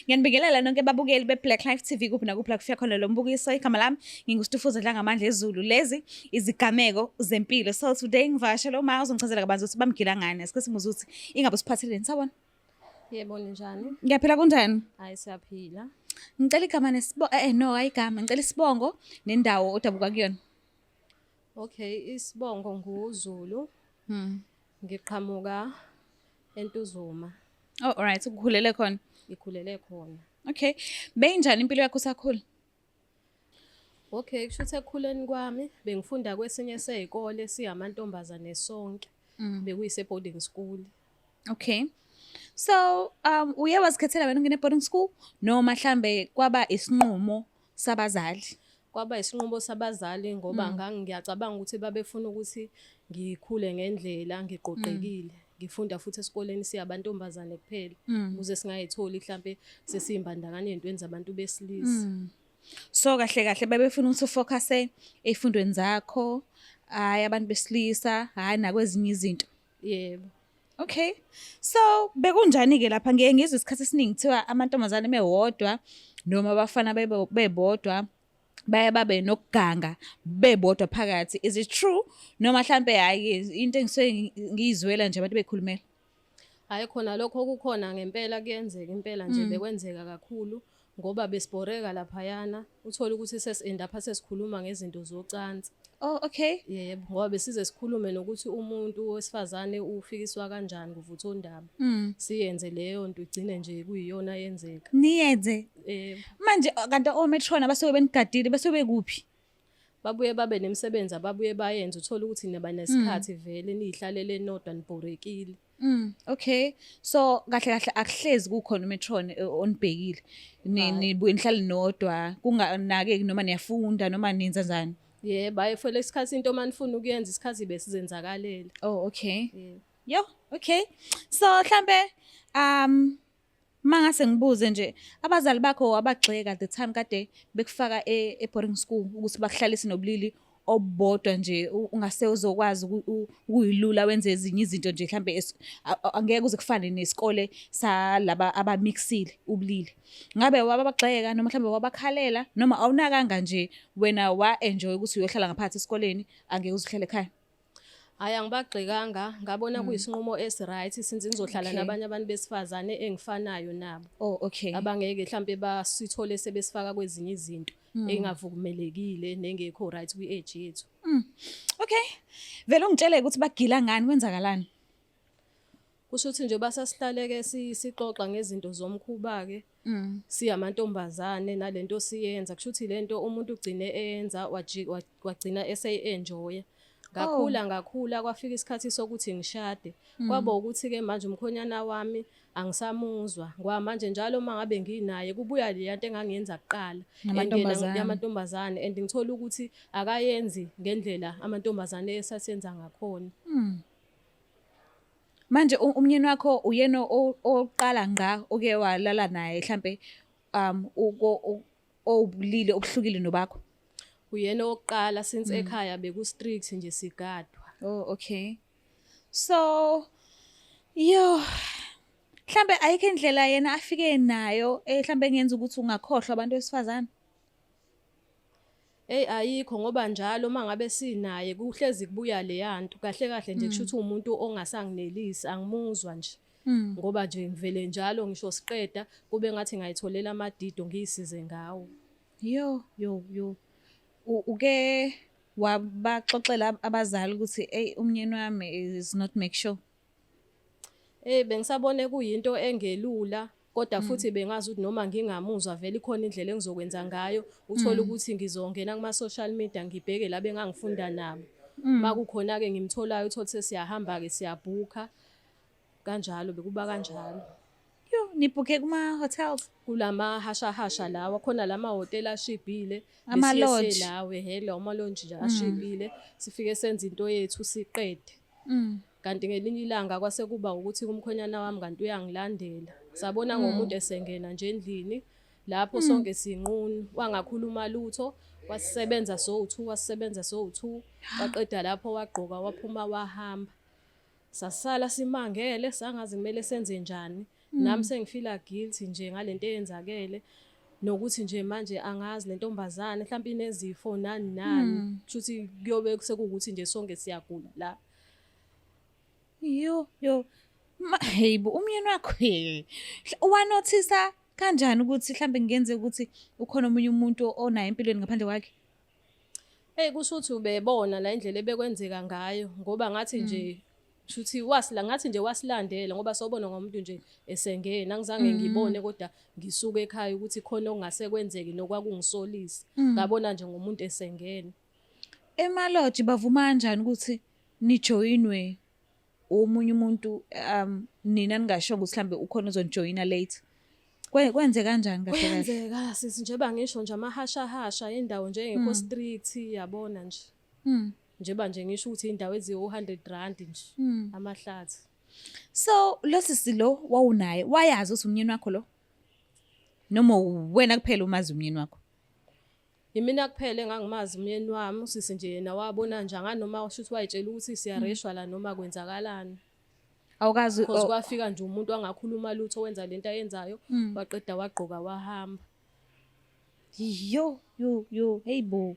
Ngiyanibingelela nonke babukeli be-Black Life TV kuphi nakuphi la kufika khona lo mbukiso. Igama lami nginguStufuza Dlangamandla ezulu. Lezi izigameko zempilo. So today ngivakashele uma uzongichazela kabanzi ukuthi bamgila ngani. Asike simuze ukuthi ingabe usiphatheleni sabona. Yebo ninjani? Ngiyaphila kunjani? Hayi siyaphila. Ngicela igama nesibongo eh, eh no ayigama ngicela isibongo nendawo odabuka kuyona. Okay, isibongo nguZulu. Mhm. Ngiqhamuka eNtuzuma. Oh alright, ukukhulele khona. Ngikhulele khona. Okay. Beyinjani impilo yakho usakhula? Okay, kusho ukuthi ekukhuleni kwami bengifunda kwesinye sezikole siyamantombazane sonke. Mm. Bekuyise boarding school. Okay. So, um uye wazikhethela wena ungene boarding school noma mhlambe kwaba isinqumo sabazali kwaba isinqumo sabazali ngoba mm. ngangiyacabanga ukuthi babefuna ukuthi ngikhule ngendlela ngiqoqekile mm. ngifunda futhi esikoleni siyabantombazane kuphela mm. ukuze singayitholi mhlambe sesiyimbandakanye ezintweni zabantu besilisa mm. so kahle kahle babefuna ukuthi ufocuse efundweni zakho hayi abantu besilisa hayi nakwezinye izinto yebo okay so bekunjani ke lapha ngiye ngizwe isikhathi esiningi kuthiwa amantombazane mewodwa noma abafana bebodwa baye babe nokuganga bebodwa phakathi is it true noma mhlambe hayi into engisuke ngiyizwela nje abantu bekhulumela hayi khona lokho kukhona ngempela kuyenzeka impela nje mm. bekwenzeka kakhulu ngoba besibhoreka laphayana uthole ukuthi sesi-endapha sesikhuluma ngezinto zocansi oh okay yebo ngoba besize sikhulume nokuthi umuntu wesifazane ufikiswa kanjani kuvutha ondaba mm. siyenze leyo nto igcine nje kuyiyona yenzeka niyenze yebo manje kanti ometron abasuke benigadile basuke bekuphi babuye babe nemisebenzi ababuye bayenze uthole ukuthi niba nesikhathi mm. vele niyihlalele nodwa nibhorekile Mm, okay. So kahle kahle akuhlezi kukhona umetron eh, onibhekile. Ni nibuye nihlale nodwa kunganake noma niyafunda noma nenza njani. Yeah, baye for lesikhathi into manifuna ukuyenza isikhathi besizenzakalele. Oh, okay. Yeah. Yo, okay. So mhlambe um Mangase ngibuze nje abazali bakho wabagxeka the time kade bekufaka e, e boarding school ukuthi bakuhlalise nobulili obodwa nje ungase uzokwazi ukuyilula wenze ezinye izinto nje mhlambe angeke uze kufane nesikole salaba abamixile ubulili ngabe wababagxeka noma mhlambe wabakhalela noma awunakanga nje wena wa enjoy ukuthi uyohlala ngaphansi esikoleni angeke uzihlele ekhaya Hayi angibagxekanga ngabona hmm. kuyisinqumo esiright since ngizohlala nabanye abantu besifazane engifanayo nabo. Oh okay. Abangeke mhlambe basithole sebesifaka kwezinye izinto hmm. engavumelekile nengekho right kwi age yethu. Hmm. Okay. Vele ungitshele ukuthi bagila ngani kwenzakalani? Kusho ukuthi nje basasihlaleke sixoxa ngezinto zomkhuba ke. Mm. siyamantombazane nalento siyenza kusho ukuthi lento umuntu ugcine eyenza waji- wa- wagcina eseyi-enjoya ngakhula Oh. ngakhula kwafika isikhathi sokuthi ngishade Mm. kwaba ukuthi-ke manje umkhonyana wami angisamuzwa ngoba manje njalo uma ngabe nginaye kubuya leya nto engangiyenza kuqala and yena Namantombazane. yamantombazane and ngithola ukuthi akayenzi ngendlela amantombazane esasenza ngakhona Mm. Manje umnyeni wakho uyena oqala ngqa oke walala naye mhlambe um uko obulile obuhlukile nobakho. Uyena oqala since mm. ekhaya beku strict nje sigadwa. Oh okay. So yo mhlambe ayikho indlela yena afike nayo eh mhlambe engenza ukuthi ungakhohlwa abantu besifazane. Ey ayikho ngoba njalo uma ngabe sinaye kuhlezi kubuya leyanto kahle kahle nje mm. kushuthi umuntu ongasanginelisi angimuzwa nje mm. ngoba nje ngivele njalo ngisho siqeda kube ngathi ngayitholela amadido ngiyisize ngawo yo yo yo uke wabaxoxela abazali ukuthi ey umnyeni wami is not make sure Eh bengisabone kuyinto engelula kodwa mm. futhi bengazi ukuthi noma ngingamuzwa vele ikhona indlela engizokwenza ngayo uthole mm. ukuthi ngizongena kuma-social media ngibheke la bengangifunda nabo mm. uma kukhona-ke ngimtholayo uthole ukuthi siyahamba-ke siyabhukha kanjalo bekuba kanjalo yo nibhukhe kuma-hotels kulamahashahasha lawa khona la mahhotela ashibhile lawe hela umalonji nje ashibhile sifike senza into yethu siqede Mm. Kanti ngelinye ilanga kwase kuba ukuthi kumkhonyana wami kanti uyangilandela. Sabona mm. ngomuntu esengena nje endlini lapho mm. sonke sinqunu wangakhuluma lutho wasisebenza sowu2 wasisebenza sowu2 waqeda lapho wagqoka waphuma wahamba sasala simangele sangazi kumele senze njani Mm. Nami sengifila guilty nje ngalento eyenzakele nokuthi nje manje angazi lentombazane mhlawumbe inezifo nani nani mm. kushuthi kuyobe sekuwukuthi nje sonke siyagula la yo yo heyibo umyeni wakho wanothisa kanjani ukuthi mhlawumbe kungenzeka ukuthi ukhona omunye umuntu onayo empilweni ngaphandle kwakhe Hey kusho ukuthi ubebona la indlela ebekwenzeka ngayo ngoba ngathi hmm. nje shuthi wasila ngathi nje wasilandela ngoba sobona ngomuntu nje esengena ngizange hmm. ngibone kodwa ngisuke ekhaya ukuthi khona okungase kwenzeke nokwakungisolisa hmm. ngabona nje ngomuntu esengena emaloji bavuma kanjani ukuthi nijoyinwe omunye umuntu um nina ningashongo ukuthi mhlambe ukhona ozonijoyina late kwenze kanjani kahle kwenzeka sisi njeba ngisho nje amahashahasha indawo nje engekho hmm. street yabona nje hmm. njeba nje ngisho ukuthi indawo eziwu 100 rand nje hmm. amahlathi so lo sisi lo wawunaye wayazi ukuthi umnyeni wakho lo noma wena kuphela umazi umnyeni wakho Yimina kuphela engangimazi umyeni wami usisi nje yena wabona nje anganoma usho ukuthi wayitshela ukuthi siyareshwa la noma kwenzakalani. Awukazi Because o- kwafika nje umuntu angakhuluma lutho wenza lento ayenzayo Mm. waqeda wagqoka wahamba. yo yo yo hey bo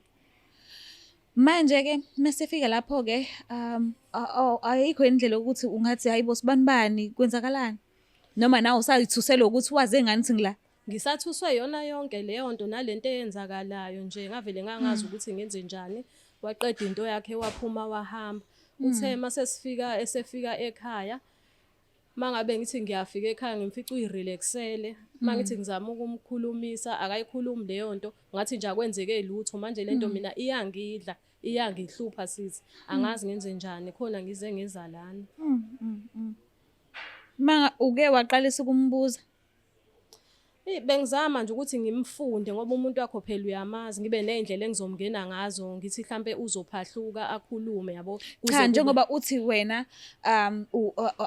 manje ke mesifika lapho ke um a- a- ayikho indlela ukuthi ungathi hayibo sibanibani kwenzakalani noma nawe usayithusela ukuthi waze ngani singila Ngisathuswe yona yonke leyo nto nalento eyenzakalayo nje ngavele ngangazi mm. ukuthi ngenze njani waqeda into yakhe waphuma wahamba mm. uthe masesifika esefika ekhaya mangabe ngithi ngiyafika ekhaya ngimfica uyirelaxele mangithi mm. ngizama ukumkhulumisa akayikhulumi leyo nto ngathi nje akwenzeke lutho manje lento mina iyangidla iyangihlupha sithi angazi ngenze njani khona ngize ngezalana manga uke waqalisa ukumbuza Bengizama nje ukuthi ngimfunde ngoba umuntu wakho phela uyamazi ngibe nezindlela engizomngena ngazo ngithi mhlambe uzophahluka akhulume yabo cha njengoba uthi wena um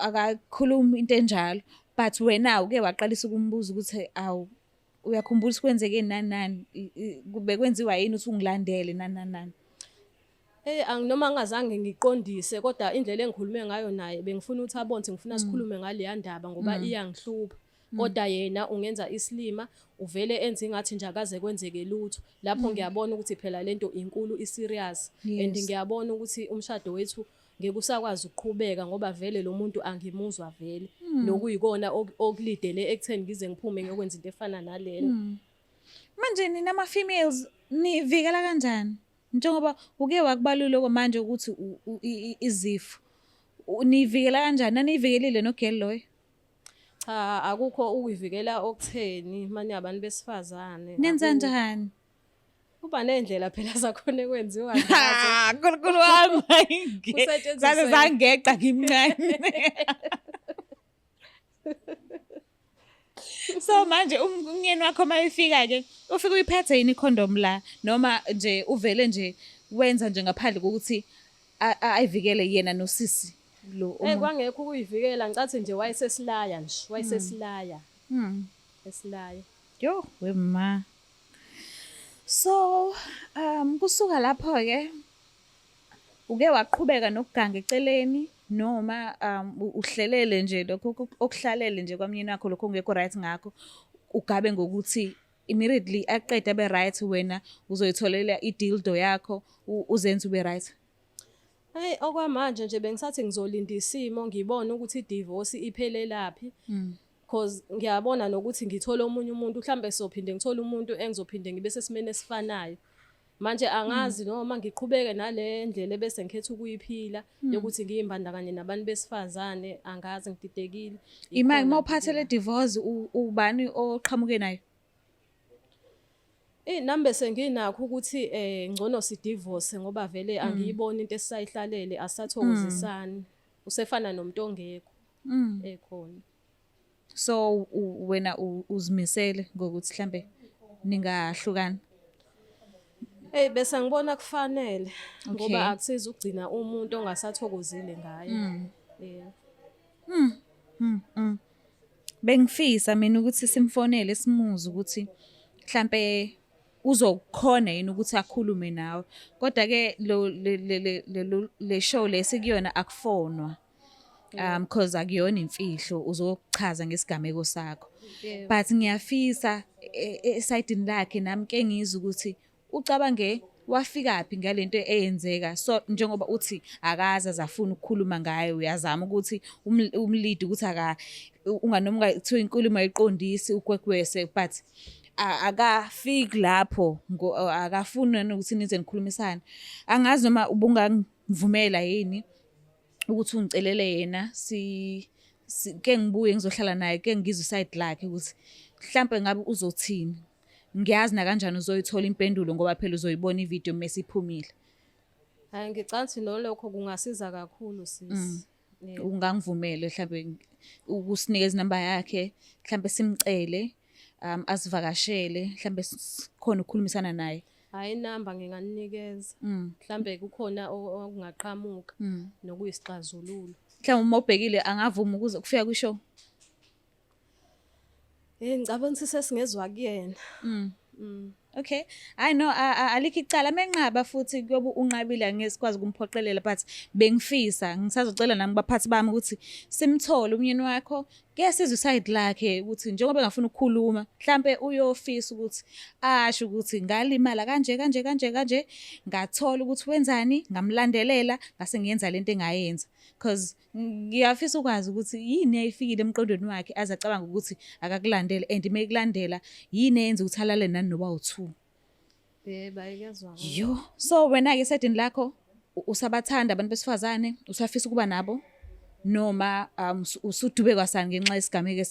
akakhulumi into enjalo but wena uke waqalisa ukumbuza ukuthi awu uyakhumbula ukuthi kwenzeke nani nani bekwenziwa yini uthi ungilandele nani nani nani Hey anginoma ngingazange ngiqondise kodwa indlela engikhulume ngayo naye bengifuna ukuthi abone ukuthi ngifuna mm. sikhulume ngaleya ndaba ngoba mm. iyangihlupha. Mm. Kodwa yena ungenza isilima uvele enze ingathi nje akaze kwenzeke lutho. Lapho ngiyabona ukuthi phela lento inkulu i serious and ngiyabona ukuthi umshado wethu ngeke usakwazi ukuqhubeka ngoba vele lo muntu angimuzwa vele. Nokuyikona okulidele ekutheni ngize ngiphume ngiyokwenza into efana nalena. Manje nina ma females nivikela kanjani? Njengoba uke wakubalula okwamanje ukuthi izifo niyivikela kanjani naniyivikelile nogeli loyo cha akukho ukuyivikela okutheni manje abantu besifazane nenza njani kuba nendlela phela zakhona ekwenziwa nkulunkulu wami zaze zangeqa ngimncane so manje um-, umyeni wakho uma efika ke ufike uyiphethe yini icondom la noma nje uvele nje wenza nje ngaphandle kokuthi ayivikele yena nosisi lo eh, omunye kwangekho ukuyivikela ngicathi nje wayesesilaya nje hmm. wayesesilaya mhm esilaya yo wema so um kusuka lapho ke Uke waqhubeka nokuganga eceleni noma um, uhlelele nje lokho okuhlalele nje kwamnyeni wakho lokho ongekho right ngakho ugabe ngokuthi immediately aqeda be right wena uzoyitholela idildo yakho uzenze ube right Hey okwamanje nje bengisathi ngizolinda isimo ngibone ukuthi idivorce iphelelaphi. Mm. cause ngiyabona nokuthi ngithole omunye umuntu mhlawumbe sophinde ngithole umuntu engizophinde ngibe sesimeni esifanayo manje angazi mm. noma ngiqhubeke nale ndlela ebese ngikhetha ukuyiphila mm. yokuthi ngiyimbandakanye nabantu besifazane angazi ngididekile imali uma uphathele divorce ubani oqhamuke nayo Eh nami bese nginakho ukuthi eh ngcono si divorce ngoba vele mm. angiyiboni into esayihlalele asathokozisani usefana nomuntu ongekho mm. ekhona so wena uzimisele ngokuthi mhlambe ningahlukana Hey bese ngibona kufanele ngoba akusiza ukugcina umuntu ongasathokozile ngaye. Mm. Yeah. Mm. Mm. mm. Bengifisa mina ukuthi simfonele simuze ukuthi mhlambe uzokhona yini ukuthi akhulume nawe. Kodwa ke lo le show lesikuyo na akufonwa. um because akuyona imfihlo uzokuchaza ngesigameko sakho but ngiyafisa e, e, esayidini lakhe nami ke ngizwe ukuthi ucabange wafikaphi ngalento eyenzeka so njengoba uthi akaza zafuna ukukhuluma ngayo uyazama ukuthi umlidi ukuthi aka unganoma kuthiwa inkulumo ayiqondisi ukwekwese but akafiki lapho akafuni nokuthi nize nikhulumisane angazi noma ubungangivumela yini ukuthi ungicelele yena si ke ngibuye ngizohlala naye ke ngizwe side lakhe ukuthi mhlambe ngabe uzothini ngiyazi na kanjani uzoyithola impendulo ngoba phela uzoyibona ivideo mase iphumile hayi ngicabanga ukuthi nolokho kungasiza kakhulu sisi mm. ungangivumele mhlambe ukusinikeza inamba yakhe mhlambe simcele um asivakashele mhlambe sikhona ukukhulumisana naye hayi inamba nginganinikeza mm. mhlambe kukhona okungaqhamuka mm. nokuyisixazululo mhlawumbe uma ubhekile angavuma ukuze kufika kwishow Eh ngicabanga ukuthi sesingezwa kuyena. Mm. Mm. Okay. I know alikho icala menqaba futhi kuyobe unqabile ngesikwazi kumphoqelela but bengifisa ngisazocela nami baphathi bami ukuthi simthole umyeni wakho ke sizwe side lakhe ukuthi njengoba engafuna ukukhuluma mhlambe uyofisa ukuthi asho ukuthi ngalimala kanje kanje kanje kanje ngathola ukuthi wenzani ngamlandelela ngase ngiyenza lento engayenza because ngiyafisa ukwazi ukuthi yini eyayifikile emqondweni wakhe aze acabanga ukuthi akakulandele and uma ekulandela yini eyenza ukuthi alale nani noba u-two yo so wena-ke esaydini lakho usabathanda abantu besifazane usafisa ukuba nabo noma um, usudube kwasani ngenxa yesigameko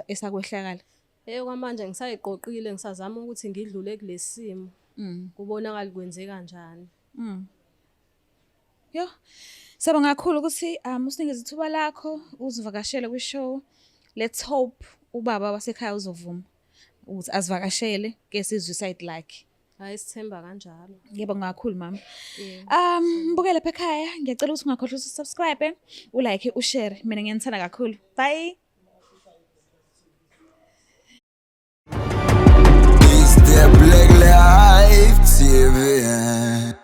esakwehlakala eyo kwamanje ngisayiqoqile ngisazama ukuthi ngidlule kulesimo mm. kubonakala kwenzeka njani mm. Yo. Saba ngakhulu ukuthi um usinikeze ithuba lakho uzivakashele kwi show. Let's hope ubaba wasekhaya uzovuma ukuthi asivakashele ke sizwe side lakhe. Hayi sithemba kanjalo. Yebo ngakhulu mama. Um mbukele lapha ekhaya ngiyacela ukuthi ungakhohlwa ukuthi subscribe, u like, u share. Mina ngiyanithanda kakhulu. Bye. Is there black life TV?